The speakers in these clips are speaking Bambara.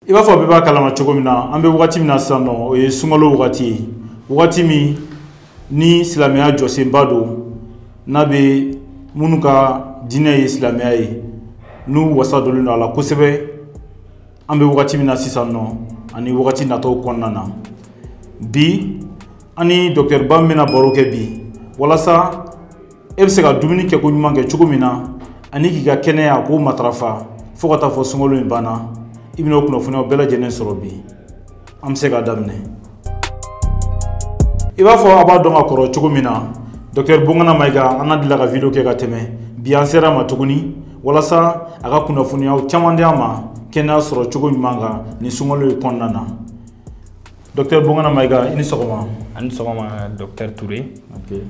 i b'a fɔ bɛɛ b'a kalama cogo min na an bɛ wagati min na sisan nɔ o ye sunkalo wagati ye wagati min ni silamɛya jɔsenba don n'a bɛ minnu ka diinɛ ye silamɛya ye n'u wasa donnen don a la kosɛbɛ an bɛ wagati min na sisan nɔ ani wagati nataw kɔnɔna na bi an ni dɔkitɛriba min bɛna baro kɛ bi walasa e bɛ se ka dumuni kɛ koɲuman kɛ cogo min na ani k'i ka kɛnɛya k'o matarafa fo ka taa fɔ sunkalo in banna i bɛna o kunnafoniyaw bɛɛ lajɛlen sɔrɔ bi an bɛ se k'a daminɛ i b'a fɔ a b'a dɔn ka kɔrɔ cogo min na dɔktɛri bongana mayiga an n'a delila ka video kɛ ka tɛmɛ bi an sera a ma tuguni walasa a ka kunnafoniyaw caman di an ma kɛnɛya sɔrɔ cogo ɲuman kan nin sunkalo in kɔnɔna na Docteur Bongana Maiga, i ni sɔgɔma. A ni sɔgɔma Docteur Toure. Ok.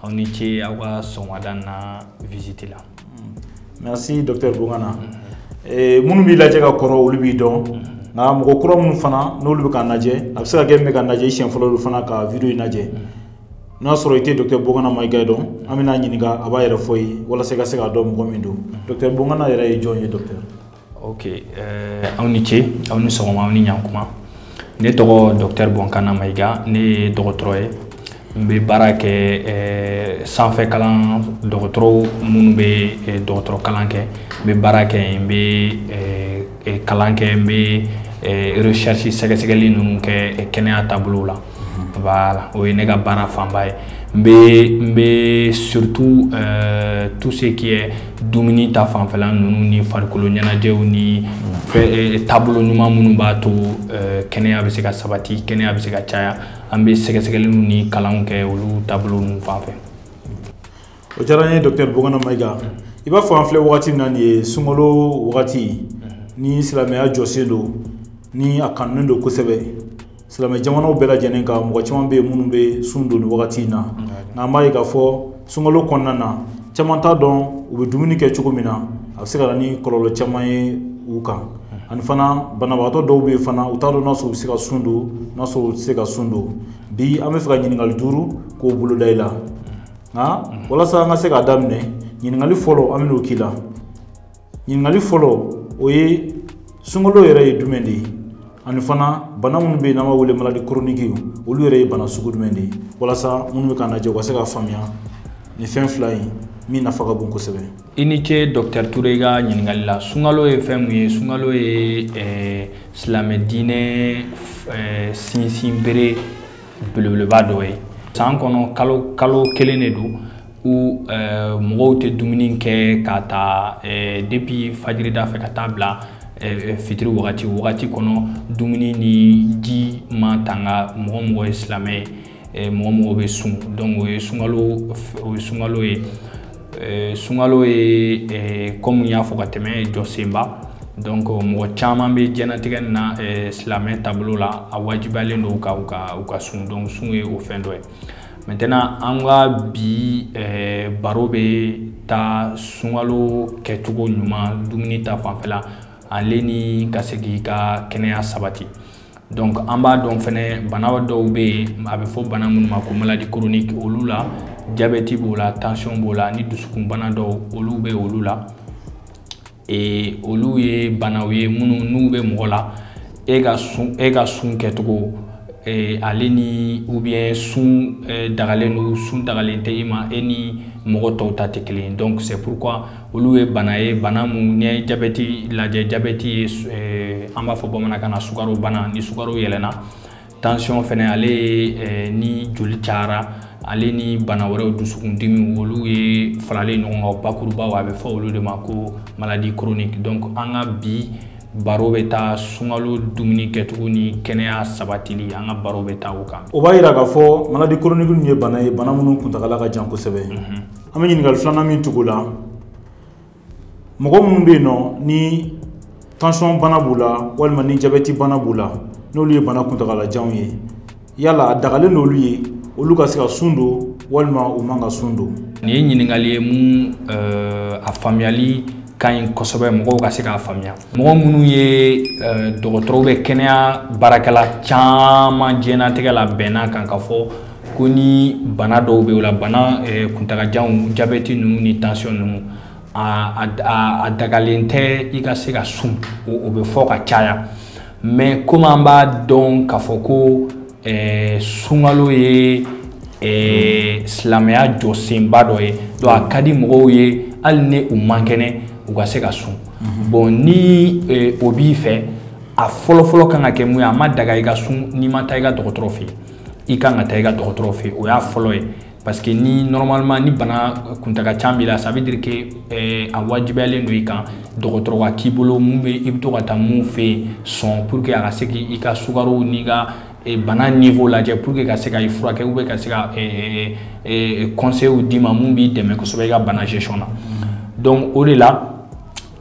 Aw ni ce aw ka sɔgɔmada na visite la. Hmm. Merci Docteur Bongana. Mm -hmm. Eh, minnu b'i lajɛ ka kɔrɔ olu b'i dɔn. Mm -hmm. nka mɔgɔ kura minnu fana n'olu bɛ k'an lajɛ a bɛ se ka kɛ i bɛ k'an lajɛ i siɲɛ fɔlɔ olu fana ka video in lajɛ n'a sɔrɔ i tɛ dɔkitɛri bongana mayiga dɔn an bɛn'a ɲininka a b'a yɛrɛ fɔ i ye walasa i ka se k'a dɔn mɔgɔ min don dɔkitɛri bongana yɛrɛ ye jɔn ye dɔkitɛri ok eh, aw ni ce aw ni sɔgɔma aw ni ɲankuma ne tɔgɔ dɔktɛr bɔnkana mayiga ne ye dɔgɔtɔrɔ ye n bɛ baara kɛ eh, sanfɛ kalan dɔgɔtɔrɔw minnu bɛ eh, dɔgɔtɔrɔ kalan kɛ n bɛ baara kɛ yen n bɛ eh, eh, kalan kɛ n bɛ eh, recherche sɛgɛsɛgɛli ninnu kɛ eh, kɛnɛya taabolow la voilà o ye ne ka baara fanba ye n bɛ n bɛ surtout euh, tout ce qui est dumuni ta fanfɛla ninnu ni farikolo ɲɛnajɛw ni fɛ euh, taabolo ɲuman minnu b'a to euh, kɛnɛya bɛ se ka sabati kɛnɛya bɛ se ka caya an bɛ sɛgɛsɛgɛliw ni kalanw kɛ olu taabolo ninnu fanfɛ. o diyara n ye docteur bongana mayiga i b'a fɔ an filɛ wagati min na nin ye sunkalo wagati ni silamɛya jɔsen don ni a kanunen don kosɛbɛ silamɛ jamanaw bɛɛ lajɛlen kan mɔgɔ caman bɛ yen minnu bɛ sun don nin wagati in na nka an b'a ye k'a fɔ sunkalo kɔnɔna na caman t'a dɔn u bɛ dumuni kɛ cogo min na a bɛ se ka na ni kɔlɔlɔ caman ye u kan ani fana banabagatɔ dɔw bɛ yen fana u t'a dɔn n'a sɔrɔ u bɛ se ka sun don n'a sɔrɔ u tɛ se ka sun don bi an b'a fɛ ka ɲininkali duuru k'o boloda i la nka walasa an ka se k'a daminɛ ɲininkali fɔlɔ an bɛn'o k'i la ɲininkali fɔlɔ o ye sunkalo yɛrɛ ye jumɛn de ye ani fana bana minnu bɛ yen n'an b'a wele maladi koroniki olu yɛrɛ ye bana sugu jumɛn de ye walasa minnu bɛ k'an lajɛ u ka se k'a faamuya nin fɛn fila in min nafa ka bon kosɛbɛ i ni ce dɔktɛri ture i ka ɲininkali la sunkalo ye fɛn mun ye sunkalo ye silamɛ diinɛ sinsinbere belebeleba dɔ ye san kɔnɔ kalo kalo kelen de don où eh, mɔgɔw tɛ dumuni kɛ ka ta eh, depuis fajirida fɛ ka taa bila eh, fitiri wagati wagati kɔnɔ dumuni ni ji matanga mɔgɔ o mɔgɔ ye silamɛ ye mɔgɔ o mɔgɔ bɛ sun donc o ye sunkalo o ye sunkalo ye eh, sunkalo ye eh, comme n y'a fɔ ka tɛmɛ jɔsenba donc mɔgɔ caman bɛ diɲɛnatigɛ nin na eh, silamɛ taabolo la a wajibiyalen don ka u ka u ka sun donc sun ye o fɛn dɔ ye maintenant an ka bi baro bɛ taa sunkalo kɛcogo ɲuman dumuni ta fanfɛla ale ni ka se k'i ka kɛnɛya sabati donc an b'a dɔn fɛnɛ bana dɔw bɛ yen a bɛ fɔ bana minnu ma ko maladie chronique olu la jabɛti b'o la tension b'o la ni dusukunbana dɔw olu bɛ olu la ee olu ye banaw ye minnu n'u bɛ mɔgɔ la e ka sun e ka sun kɛcogo ee ale ni ou bien sun dagalen don sun dagalen tɛ i ma e ni mɔgɔ tɔw ta tɛ kelen ye donc c'est pourquoi olu ye bana ye bana mun n'i ye jabɛti lajɛ jabɛti ye eh, an b'a fɔ bamanankan na sukaro bana ni sukaro yɛlɛnna tansiyɔn fɛnɛ ale ye eh, ni joli cayara ale ni bana wɛrɛw dusukundimi olu ye faralen ɲɔgɔn kan bakuruba a bɛ fɔ olu de ma ko maladie chronique donc an ka bi baro bɛ taa sunkalo dumuni kɛcogo ni kɛnɛya sabatili an ka baro bɛ taa o kan o b'a yira k'a fɔ maladie chronique ninnu ye bana ye bana minnu kuntagala ka jan kosɛbɛ mhm. an bɛ ɲininkali filanan min tugu o la mɔgɔ minnu bɛ yen nɔ ni tansiyɔn bana b'u la walima ni jabɛti bana b'u la n'olu ye bana kuntagalajanw ye yala a dagalen don olu ye olu ka se ka sun don walima u man ka sun don nin ye ɲininkali ye mun eh, a faamuyali ka ɲi kosɛbɛ mɔgɔw ka se k'a faamuya mɔgɔ minnu ye eh, dɔgɔtɔrɔw bɛ kɛnɛya baarakɛla caman diɲɛnatigɛ la bɛnna a kan k'a fɔ ko ni bana dɔw bɛ o la bana eh, kuntagajanw jabɛti ninnu ni tansiyɔn ninnu a dagalen tɛ i ka se ka sun o bɛ fɔ ka caya mais comme an b'a dɔn k'a fɔ ko eh, sunkalo ye eh, silamɛya jɔsenba dɔ ye donc a ka di mɔgɔw ye hali ni u man kɛnɛ u ka se ka sun mhm. bon ni o b'i fɛ a fɔlɔfɔlɔ kan ka kɛ mun ye a ma daga i ka sun n'i ma taa i ka dɔgɔtɔrɔ fɛ yen i kan ka taa i ka dɔgɔtɔrɔ fɛ o y'a fɔlɔ ye parce que ni normalement ni bana kuntagajan b'i la ça veut dire que eh, a wajibiyalen don i kan dɔgɔtɔrɔ ka k'i bolo mun bɛ i bɛ to ka taa mun fɛ yen souvent pour que a ka se k'i ka sukaro n'i ka eh, bana niveau lajɛ pour que a ka se ka i furakɛ ou ka se ka eh, eh, conseils d'i ma mun b'i dɛmɛ kosɛbɛ i ka bana gestion na donc o de la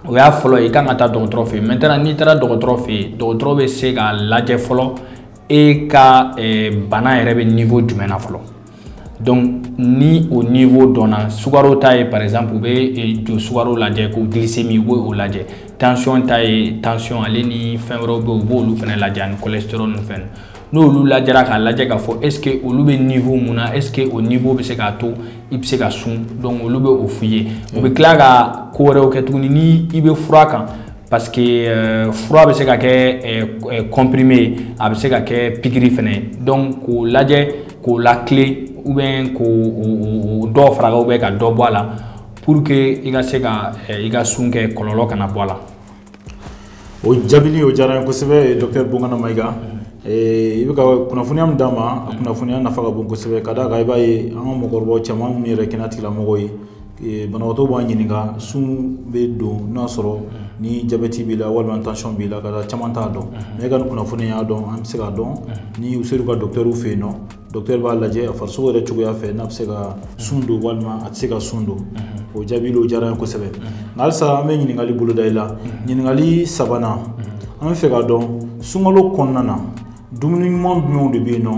o y'a fɔlɔ ye i kan ka taa dɔgɔtɔrɔ fɛ yen maintenant n'i taara dɔgɔtɔrɔ fɛ yen dɔgɔtɔrɔ bɛ se k'a lajɛ fɔlɔ e ka eh, bana yɛrɛ bɛ niveau jumɛn na fɔlɔ donc ni o niveau dɔnna sukaro ta ye par exemple u bɛ eh, joli sukaro lajɛ ko glycémie u b'o lajɛ tension ta ye tension ale ni fɛn wɛrɛw bɛ yen u b'olu fana lajɛ ani cholestérol ni fɛn n'olu lajɛra k'a lajɛ k'a fɔ est ce que olu bɛ niveau mun na est ce que o niveau bɛ se k'a to i bɛ se ka sun donc olu bɛ o f'i ye u bɛ tila ka ko wɛrɛw kɛ tuguni ni i bɛ fura kan parce que euh, fura bɛ se ka kɛ euh, euh, comprimé ye a bɛ se ka kɛ pikiri fana ye donc k'o lajɛ k'o latilen ou bien k'o dɔ fara ou bien ka dɔ bɔ a la pour que i ka se ka i ka sun kɛ kɔlɔlɔ kana bɔ a la. o jaabili o diyara n ye kosɛbɛ docteur Bonkana Mayiga i bɛ ka kunnafoniya min d'an ma a kunnafoniya nafa ka bon kosɛbɛ ka d'a kan i b'a ye an ka mɔgɔkɔrɔbaw caman minnu yɛrɛ ye kɛnɛyatigilamɔgɔw ye banabagatɔ b'a ɲininka sun bɛ don n'a sɔrɔ ni jabɛti b'i la walima tension b'i la ka da caman t'a dɔn mais e ka nin kunnafoni y'a to an bɛ se k'a dɔn ni u sera u ka docteurw fɛ yen nɔ docteur b'a lajɛ a farisogo yɛrɛ cogoya fɛ n'a bɛ se ka sun don walima a tɛ se ka sun don o jaabili o diyara n ye kosɛbɛ nka halisa an bɛ ɲininkakali boloda i la ɲininkakali sabanan an bɛ fɛ k'a dɔn sunkalo kɔnɔna na dumuni ɲuman jumɛnw de bɛ yen nɔ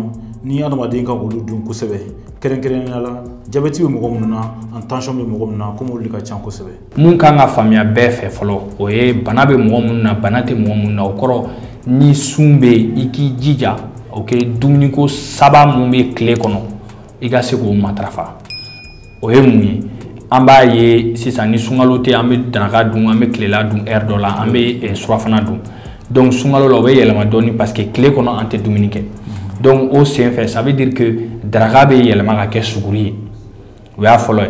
ni adamaden ka olu dun kosɛbɛ kɛrɛnkɛrɛnya la jabɛti bɛ mɔgɔ minnu na ani tension bɛ mɔgɔ minnu na komi olu de ka ca kosɛbɛ mun kan ka faamuya bɛɛ fɛ fɔlɔ o ye bana bɛ mɔgɔ minnu na bana tɛ mɔgɔ minnu na o kɔrɔ ni sun bɛ yen i k'i jija o kɛ dumuniko saba mun bɛ tile kɔnɔ i ka se k'o matarafa o ye mun ye an b'a ye sisan ni sunkalo tɛ an bɛ daraka dun an bɛ tilela dun heure dɔ la an bɛ eh, surafana dun donc sunkalo la o bɛ yɛlɛma dɔɔni parce que tile kɔnɔ an tɛ dumuni kɛ donc o senfɛ ça veut dire que daraka bɛ yɛlɛma ka kɛ suguri ye o y'a fɔlɔ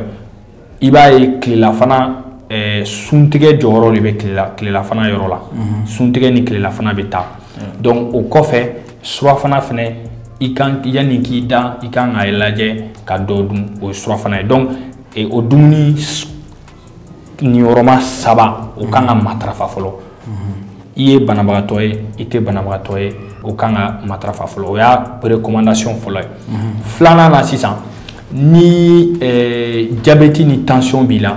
ye i b'a ye tilelafana eh, suntigɛ jɔyɔrɔ de bɛ tilela tilelafana yɔrɔ la suntigɛ ni tilelafana bɛ taa donc o kɔfɛ surafana fɛnɛ i kan yanni k'i da i kan k'a lajɛ ka dɔ dun o ye surafana ye donc e, o dumuni niyɔrɔma saba o kan ka matarafa fɔlɔ mhm. i ye banabagatɔ ye i tɛ banabagatɔ ye o kan ka matarafa fɔlɔ o y'a recommandation fɔlɔ ye mhm. filanan na sisan ni eh, jabɛti ni tension b'i la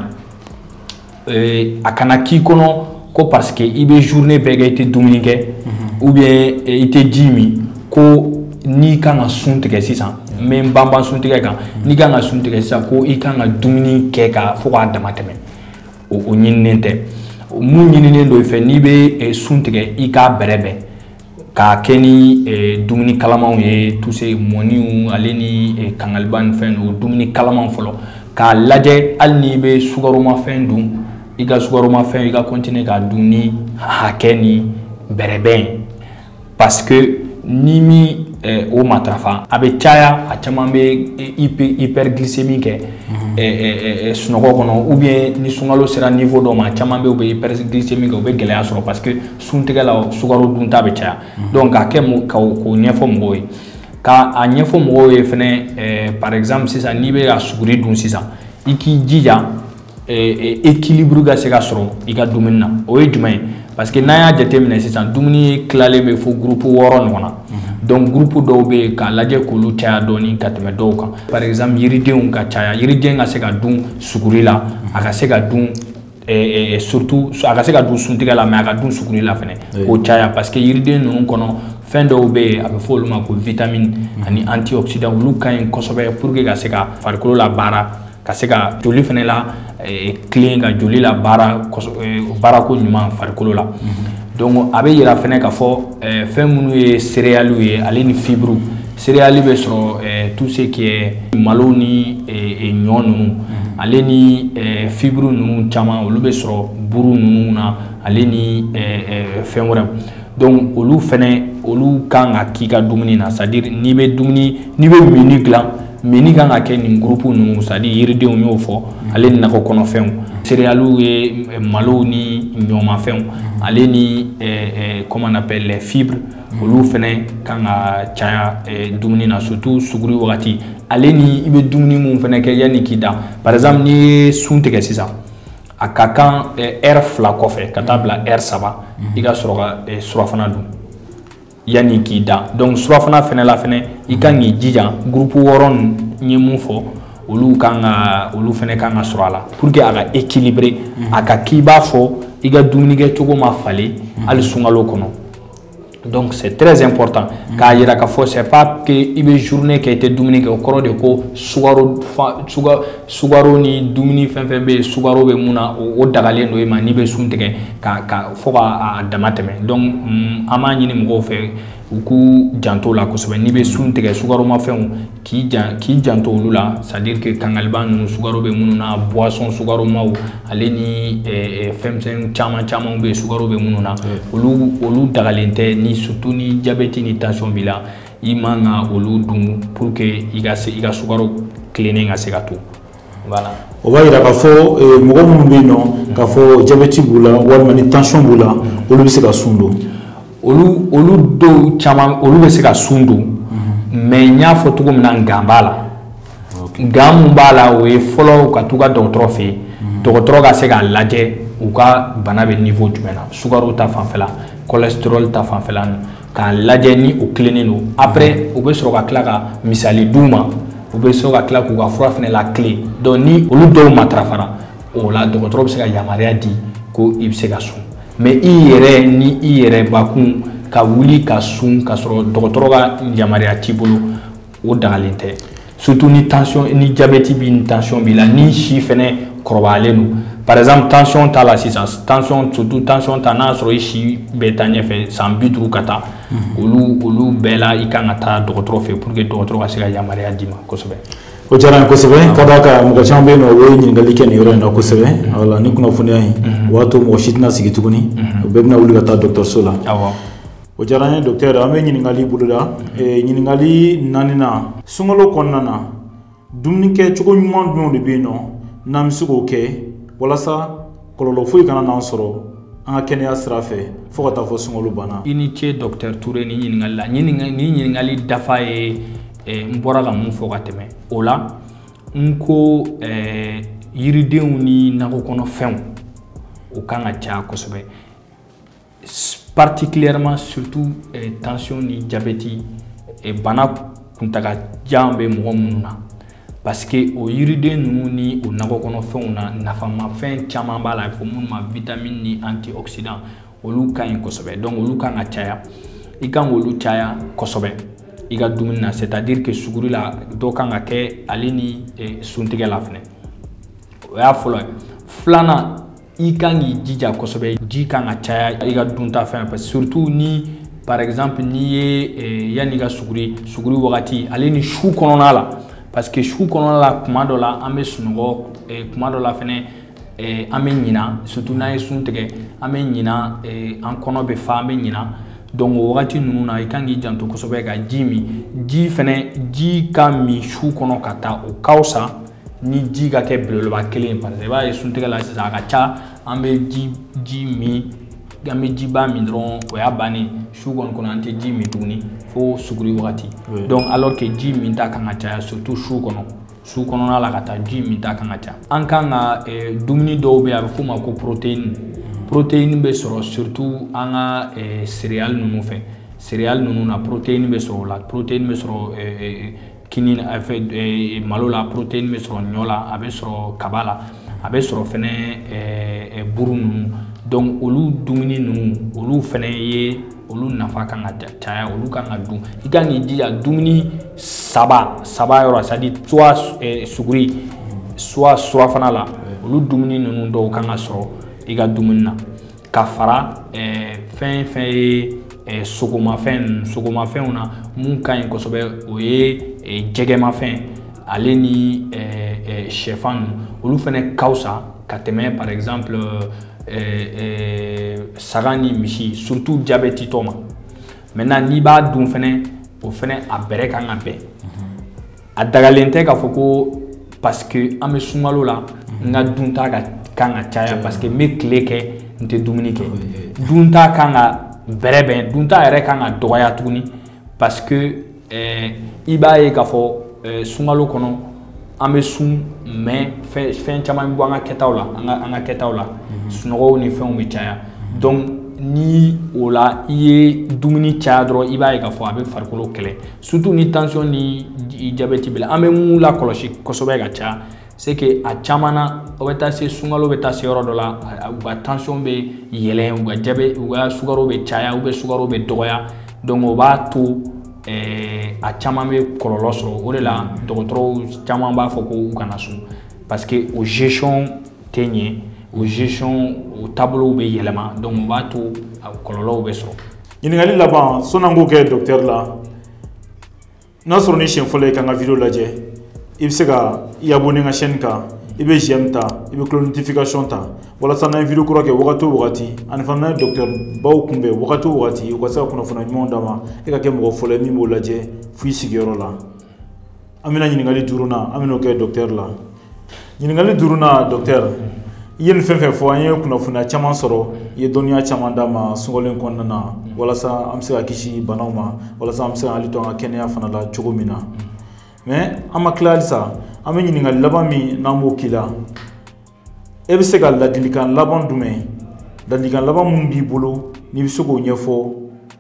eh, a kana k'i kɔnɔ ko parce que i bɛ journée bɛɛ kɛ i tɛ dumuni kɛ mhm. ou bien eh, i tɛ ji min ko n'i kan ka sun tigɛ sisan n bɛ n banban sun tigɛ kan mhm. n'i kan ka sun tigɛ sisan ko i kan ka dumuni kɛ ka fo k'a dama tɛmɛ o o ɲininen tɛ mun ɲininen don i fɛ n'i bɛ eh, sun tigɛ i k'a bɛrɛbɛn k'a kɛ ni eh, dumuni kalamanw ye tuse mɔniw ale ni eh, kangaliba ni fɛn o dumuni kalamanw fɔlɔ k'a lajɛ hali n'i bɛ sukaromafɛn dun i ka sukaromafɛn i ka continuer k'a dun ni hakɛ ni bɛrɛbɛn parce que ni min eh, o matarafa a bɛ caya a caman bɛ hyperglycémie kɛ mhm. eh, eh, eh, sunɔgɔ kɔnɔ ou bien ni sunkalo sera niveau dɔ ma a caman bɛ u bɛ hyperglycémie kɛ u bɛ gɛlɛya sɔrɔ parce que suntigɛ la sukaro dunta bɛ caya mhm. donc k'a kɛ mɔgɔ k'o k'o ɲɛfɔ mɔgɔw ye k'a ɲɛfɔ mɔgɔw ye fɛnɛ eh, par exemple sisan n'i bɛ ka suguri dun sisan i k'i jija eh, eh, équilibre ka se ka sɔrɔ i ka dumuni na o ye jumɛn ye parce que n'an y'a jateminɛ sisan dumuni tilalen bɛ fo groupe wɔɔrɔ ɲɔgɔn na mhm. donc groupe dɔw bɛ yen k'a lajɛ k'olu caya dɔɔni ka tɛmɛ dɔw kan par exemple yiridenw ka caya yiriden ka se ka dun suguri la a ka se ka dun Eh, eh, surtout a ka se ka dun suntigɛ la mais a ka dun suguri la fɛnɛ k'o caya parce que yiriden ninnu kɔnɔ fɛn dɔw bɛ yen a bɛ fɔ olu ma ko vitamine ani antioxydant olu ka ɲi kosɛbɛ pour que ka se ka farikolo la baara ka se ka joli fɛnɛ la eh, tilen ka joli la baara baarako ɲuman farikolo la donc a bɛ yira fɛnɛ k'a fɔ fɛn minnu ye céréales ye ale ni fibres céréales bɛ sɔrɔ eh, tout ce qui est malo ni eh, eh, ɲɔ ninnu mhm. ale ni fibres ninnu caman olu bɛ sɔrɔ buru ninnu na ale ni fɛn wɛrɛw donc olu fɛnɛ olu kan ka k'i ka dumuni na c'est à dire n'i bɛ dumuni n'i bɛ menu dilan menu kan ka kɛ nin groupe ninnu c'est à dire yiridenw y'o fɔ mhm. ale ni nakɔ kɔnɔfɛnw céréales ye malow ni ɲɔmafɛnw mhm. ale ni comment on appelle les fibres olu fɛnɛ kan ka caya eh, dumuni na surtout suguri wagati ale ni i bɛ dumuni mun fɛnɛ kɛ yanni k'i da par exemple n'i ye sun tigɛ sisan a ka kan eh, heure fila kɔfɛ ka taa bila heure saba mhm. i ka sɔrɔ ka eh, surafana dun yanni k'i da donc surafana fɛnɛ la fɛnɛ i kan k'i jija groupe wɔɔrɔ n ye mun fɔ olu kan ka olu fɛnɛ kan ka sɔrɔ a la pour que a ka équilibrer mhm. a ka k'i b'a fɔ i ka dumunikɛ cogo ma falen mhm. hali sunkalo kɔnɔ donc c'est très important k'a yira k'a fɔ c'est pas que i bɛ journée kɛ i tɛ dumuni kɛ o kɔrɔ de ko sukaro sukaro ni dumuni fɛn fɛn bɛ yen sukaro bɛ mun na o dagalen don i ma n'i bɛ sun tigɛ ka ka fo k'a dama tɛmɛ donc mm, an b'a ɲini mɔgɔw fɛ u k'u janto o la kosɛbɛ n'i bɛ sun tigɛ sukaromafɛnw k'i jan k'i janto olu la c'est à dire que kangaliba ninnu sukaro bɛ minnu na boisson sukaromaw ale ni eh, eh, fɛnmisɛn caman camanw bɛ sukaro bɛ minnu na olu olu dagalen tɛ ni surtout ni jabɛti ni tension b'i la i man ka olu dun pour que i ka se i ka sukaro tilennen ka se ka to o b'a yira k'a fɔ eh, mɔgɔ minnu bɛ yen nɔ k'a fɔ jabɛti b'u la walima ni tansiyɔn b'u la olu bɛ se ka sun don olu olu dɔw caman olu bɛ se ka sun don mais n y'a fɔ cogo min na nkan b'a la nkan mun b'a la o ye fɔlɔ u ka t'u ka dɔgɔtɔrɔ fɛ yen dɔgɔtɔrɔ ka se k'a lajɛ u ka bana bɛ niveau jumɛn na sukaro ta fanfɛla kɔlɛsiterɔli ta fanfɛla k'a lajɛ ni o tilennen don après u bɛ sɔrɔ ka tila ka misali d'u ma u bɛ sɔrɔ ka tila k'u ka fura fɛnɛ latilen donc ni olu dɔw matarafara o la dɔgɔtɔrɔ bɛ se ka yamaruya di ko i bɛ se ka sun mais i yɛrɛ ni i yɛrɛ bakun ka wuli ka sun ka sɔrɔ dɔgɔtɔrɔ ka yamaruya t'i bolo o dagalen tɛ surtout ni tension ni diabète b'i ni tension b'i la ni si fɛnɛ kɔrɔbayalen don par exemple tension t'a la sisan tension surtout tension ta n'a sɔrɔ i si bɛ taa ɲɛfɛ san bi duuru ka taa mhm. olu olu bɛɛ la i kan ka taa dɔgɔtɔrɔ fɛ pour que dɔgɔtɔrɔ ka se ka yamaruya d'i ma kosɛbɛ o diyara n ye kosɛbɛ ah. ka d'a kan mɔgɔ caman bɛ yen nɔ o ye ɲininkali kɛ nin yɔrɔ in na kosɛbɛ mhm. wala ni kunnafoniya in mhm. o b'a to mɔgɔ si tɛna sigi tuguni u bɛɛ bɛna wuli ka taa dɔgɔtɔrɔso la O diyara n ye docteur an bɛ ɲininkali boloda ɲininkali naaninan sunkalo kɔnɔna na dumunikɛ cogo ɲuman jumɛnw de bɛ yen nɔ n'an bɛ se k'o kɛ walasa kɔlɔlɔ foyi kana n'an sɔrɔ an ka kɛnɛya sira fɛ fo ka taa fo sunkalo banna i ni ce docteur Toure ni ɲininkakali la ni ɲininkakali dafa ye n bɔra ka mun fɔ ka tɛmɛ o la n ko yiridenw ni nakɔ kɔnɔfɛnw o kan ka ca kosɛbɛ particulièrement surtout eh, tension ni diabète eh, bana kuntaga jan bɛ mɔgɔ minnu na parce que o yiriden ninnu ni o nakɔ kɔnɔfɛnw na nafamafɛn caman b'a la fɔ minnu ma vitamine ni antioxydant olu ka ɲi kosɛbɛ donc olu kan ka caya i kan k'olu caya kosɛbɛ i ka dumuni na c'est à dire que suguri la dɔ kan ka kɛ ale ni eh, suntigɛ la fɛnɛ o y'a fɔlɔ ye filanan i kan k'i jija kosɛbɛ ji kan ka caya i ka dunta fɛn fɛ surtout ni par exemple n'i ye eh, yanni ka suguri suguri wagati ale ni su kɔnɔna la parce que su kɔnɔna la kuma dɔ la an bɛ sunɔgɔ eh, kuma dɔ la fɛnɛ eh, an bɛ ɲina surtout n'an ye sun tigɛ an bɛ ɲina eh, an kɔnɔ bɛ fa an bɛ ɲina donc o wagati ninnu na i kan k'i janto kosɛbɛ ka ji min ji fɛnɛ ji ka min su kɔnɔ ka taa o ka fisa ni ji ka kɛ belebeleba kelen ye parce que i b'a ye suntigɛ la sisan a ka ca an bɛ ji ji min an bɛ jiba min dɔrɔn o y'a bannen su kɔni kɔnɔ an tɛ ji min tuguni fo suguri wagati donc alors que ji min ta kan ka caya surtout su kɔnɔ su kɔnɔna la ka taa ji min ta kan ka ca an kan ka eh, dumuni dɔw bɛ yen a bɛ f'o ma ko protéine protéine bɛ sɔrɔ surtout an ka eh, céréales ninnu fɛ céréales ninnu na protéine bɛ sɔrɔ o la protéine bɛ sɔrɔ eh, kini eh, malo la protéine bɛ sɔrɔ ɲɔ la a bɛ sɔrɔ kaba la a bɛ sɔrɔ fɛnɛ eh, eh, buru ninnu donc olu dumuni ninnu olu fɛnɛ ye olu nafa kan ka caya olu kan ka dun i kan k'i jija dumuni saba saba yɔrɔ c'est à dire soit suguri soit surafana la olu dumuni ninnu dɔw kan ka sɔrɔ i ka dumuni na ka fara fɛn fɛn ye sogomafɛn sogomafɛnw na mun ka ɲi kosɛbɛ o ye jɛgɛmafɛn ale ni sɛfan ninnu olu fɛnɛ ka fisa ka tɛmɛ par exemple saga ni misi surtout jabɛtitɔ ma maintenant n'i b'a dun fɛnɛ o fɛnɛ a bɛrɛ kan ka bɛn a dagalen tɛ k'a fɔ ko parce que an bɛ sunkalo la n ka dunta ka kan ka caya parce que n bɛ tile kɛ n tɛ dumuni kɛ dunta kan ka bɛrɛbɛn dunta yɛrɛ kan ka dɔgɔya tuguni parce que eh, i b'a ye k'a fɔ eh, sunkalo kɔnɔ an bɛ sun mais fɛn caman bɛ bɔ an ka kɛtaw la an ka an ka kɛtaw la mhm. sunɔgɔw ni fɛnw bɛ caya mhm. donc ni o la i ye dumuni caya dɔrɔn i b'a ye k'a fɔ a bɛ farikolo kɛlɛ surtout ni tension ni diabète bɛ la an bɛ mun lakɔlɔsi kosɛbɛ ka caya c'est que a caman na o bɛ taa se sunkalo bɛ taa se yɔrɔ dɔ la u ka tension bɛ yɛlɛn u ka diabète u ka sukaro bɛ caya ou bien sukaro bɛ dɔgɔya donc o b'a to ɛɛ a caman bɛ kɔlɔlɔ sɔrɔ o de la dɔgɔtɔrɔw caman b'a fɔ ko u kana sun parce que o gestion tɛ ɲɛ o gestion o taabolow bɛ yɛlɛma donc o b'a to a kɔlɔlɔw bɛ sɔrɔ ɲininkali laban sɔn'an k'o kɛ dɔkitɛri la n'a sɔrɔ n'i siɲɛ fɔlɔ ye k'an ka video lajɛ i bɛ se ka i abonné n ka chaîne kan i bɛ j'aime ta i bɛ cloche notification ta walasa n'an ye video kura kɛ wagati o wagati ani fana n'an ye dɔkitɛri baw kunbɛn wagati o wagati u ka se ka kunnafoniya ɲumanw d'an ma e ka kɛ mɔgɔ fɔlɔ ye min b'o lajɛ fo i sigiyɔrɔ la an bɛna ɲininkali duurunan an bɛn'o kɛ dɔkitɛri la ɲininkali duurunan dɔkitɛri i ye nin fɛn fɛn fɔ an ye kunnafoniya caman sɔrɔ i ye dɔnniya caman d'an ma sunkalo in kɔnɔna na walasa an bɛ se ka kisi banaw ma walasa an bɛ se ka hakili to an ka kɛnɛya fana la cogo min na mais an ma tila halisa an bɛ ɲininkali laban min n'an b'o k'i la e bɛ se ka ladilikan laban jumɛn ladilikan laban minnu b'i bolo n'i bɛ se k'o ɲɛfɔ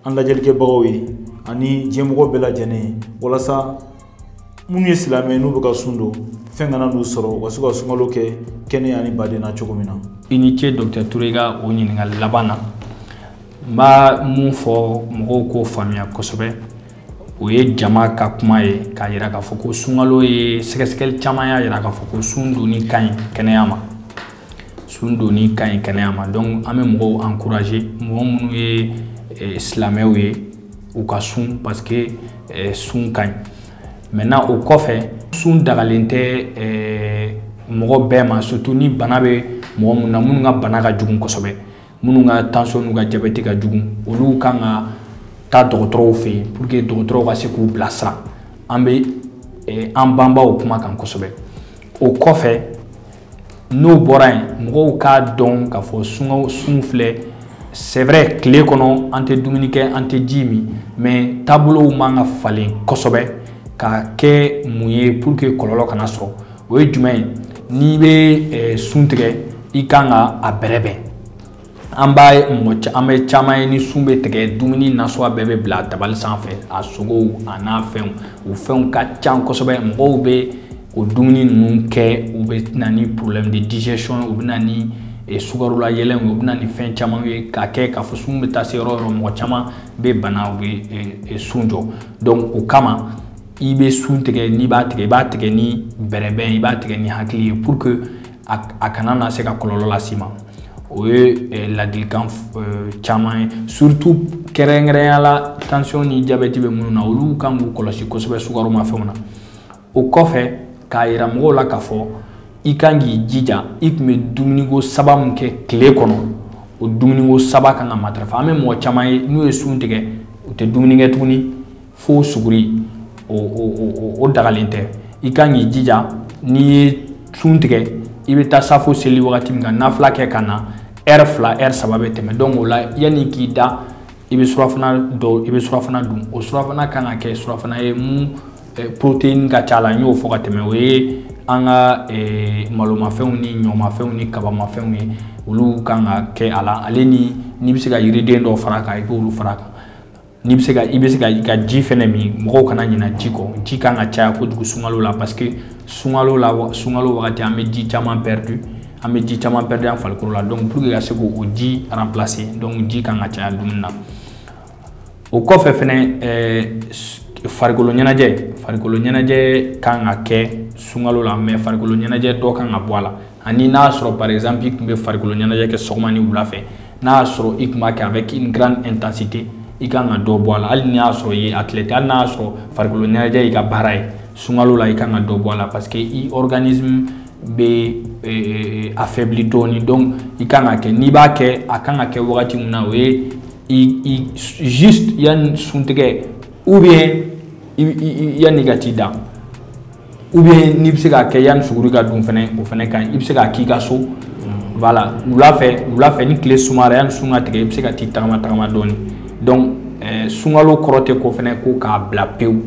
an lajɛlikɛbagaw ye ani diɲɛmɔgɔ bɛɛ lajɛlen ye walasa minnu ye silamɛ n'u bɛ ka sun don fɛn kana n'u sɔrɔ u ka se ka sunkalo kɛ kɛnɛya ni baden na cogo min na i ni ce dɔkitɛri ture ka o ɲininkali laban na n bɛ mun fɔ mɔgɔw k'o faamuya kosɛbɛ o ye jama ka kuma ye k'a yira k'a fɔ ko sunkalo ye sɛgɛsɛgɛli caman y'a yira k'a fɔ ko sun donni ka ɲi kɛnɛya ma sun donni ka ɲi kɛnɛya ma donc an bɛ mɔgɔw encourager mɔgɔ minnu ye eh, silamɛw ye u ka sun parce que eh, sun ka ɲi maintenant o kɔfɛ sun dagalen tɛ eh, mɔgɔ bɛɛ ma surtout ni bana bɛ mɔgɔ minnu na minnu ka bana ka jugu kosɛbɛ minnu ka tension n'u ka jabɛti ka jugu olu kan ka taa dɔgɔtɔrɔw fɛ yen pour que dɔgɔtɔrɔw ka se k'u bilasira an bɛ eh, an banban o kuma kan kosɛbɛ o kɔfɛ n'o bɔra yen mɔgɔw k'a dɔn k'a fɔ sungaw sun filɛ c'est vrai tile kɔnɔ an tɛ dumuni kɛ an tɛ ji min mais taabolow man ka falen kosɛbɛ ka kɛ mun ye pour que kɔlɔlɔ kana sɔrɔ o ye jumɛn ye n'i bɛ eh, sun tigɛ i kan ka a bɛrɛbɛn an b'a ye mɔgɔ an bɛ caman ye ni sun bɛ tigɛ dumuni nasuguya bɛɛ bɛ bila tabali sanfɛ a sogow a nafɛnw o fɛnw ka ca kosɛbɛ mɔgɔw bɛ o dumuni ninnu kɛ u bɛ na ni problème de digestion u bɛ na ni eh, sukaro layɛlɛnw ye u bɛ na ni fɛn caman ye ka kɛ k'a fɔ sun bɛ taa se yɔrɔ yɔrɔ mɔgɔ caman bɛ bana u bɛ eh, sun jɔ donc o kama i bɛ sun tigɛ n'i b'a tigɛ i b'a tigɛ ni bɛrɛbɛn i b'a tigɛ ni hakili ye pour que a kana na se ka kɔlɔlɔ las'i ma o ye eh, ladilikan eh, caman ye surtout kɛrɛnkɛrɛnya la tension ni jabɛti bɛ minnu na olu kan k'u kɔlɔsi kosɛbɛ sukaromafɛnw na o kɔfɛ k'a yira mɔgɔw la k'a fɔ i kan k'i jija i tun bɛ dumuniko saba min kɛ tile kɔnɔ o dumuniko saba kan ka matarafa an bɛ mɔgɔ caman ye n'u ye sun tigɛ u tɛ dumuni kɛ tuguni fo suguri o o o o dagalen tɛ i kan k'i jija n'i ye sun tigɛ i bɛ taa safo seli wagati min ka nafila kɛ ka na heure fila heure saba bɛ tɛmɛ donc o la yanni k'i da i bɛ surafana dɔ i bɛ surafana dun o surafana kan ka kɛ surafana ye mun eh, protéine ka ca la n y'o fɔ ka tɛmɛ o ye an ka eh, malomafɛnw ni ɲɔmafɛnw ni kabamafɛnw ye olu kan ka kɛ a la ale ni n'i bɛ se ka yiriden dɔ fara a kan i b'olu fara a kan n'i bɛ se ka i bɛ se ka i ka ji fɛnɛ min mɔgɔw kana ɲina ji kɔ ji kan ka caya kojugu sunkalo la parce que sunkalo la sunkalo wagati an bɛ ji caman perdu an bɛ ji caman perdu an farikolo la donc pour que ka se k'o ji remplacer donc ji kan ka caya dumuni na o kɔfɛ fɛnɛ ɛɛ farikolo ɲɛnajɛ farikolo ɲɛnajɛ kan ka kɛ sunkalo la mais farikolo ɲɛnajɛ dɔ kan ka bɔ a la ani n'a y'a sɔrɔ par exemple i tun bɛ farikolo ɲɛnajɛ kɛ sɔgɔma ni wula fɛ n'a y'a sɔrɔ i tun b'a kɛ avec une grande intensité i kan ka dɔ bɔ a la hali n'i y'a sɔrɔ i ye athlète hali n'a y'a sɔrɔ farikolo ɲɛnajɛ y'i ka baara ye sunkalo la i kan ka dɔ bɔ a la parce que i organisme bɛ eh, affaibli dɔɔni donc i kan ka kɛ n'i b'a kɛ a kan ka kɛ wagati min na o ye i i juste yanni suntigɛ ou bien yanni i ka t'i da. ou bien n'i bɛ se k'a kɛ yanni suguri ka dun fana o fana ka ɲi i bɛ se k'a k'i ka so wala wula fɛ ni tile suma yanni sun ka tigɛ i bɛ se ka t'i tagama tagama dɔɔnin donc sunkalo kɔrɔ tɛ ko fana ko k'a bila pewu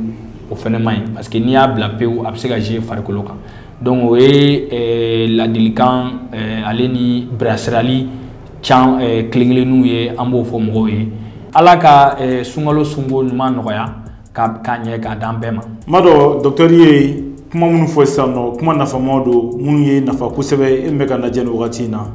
o fana man ɲi parce que n'i y'a bila pewu a bɛ se ka jouer farikolo kan donc o ye ladilikan ale ni bilasiralikan kelen kelenninw ye an b'o fɔ mɔgɔw ye ala ka sunkalo sunko ɲuman nɔgɔya k'a ɲɛ k'a d'an bɛɛ ma m'a dɔn docteur ye kuma minnu fɔ sisan nɔ kuma nafama don minnu ye nafa kosɛbɛ e min bɛ k'an lajɛ nin wagati in na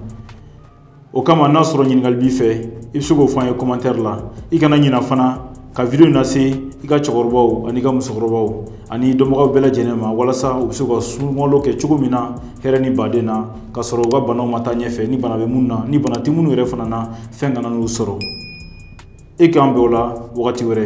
o kama n'a sɔrɔ ɲininkali b'i fɛ i bɛ se k'o fɔ an ye commentaire la i kana ɲina fana ka video in lase i ka cɛkɔrɔbaw ani i ka musokɔrɔbaw ani dɔnbagaw bɛɛ lajɛlen ma walasa u bɛ se ka sunkalo kɛ cogo min na hɛrɛ ni baden na ka sɔrɔ u ka banaw ma taa ɲɛfɛ ni bana bɛ minnu na ni bana tɛ minnu yɛrɛ fana na fɛn kana n'u sɔrɔ e k'an bɛn o la wagati wɛrɛ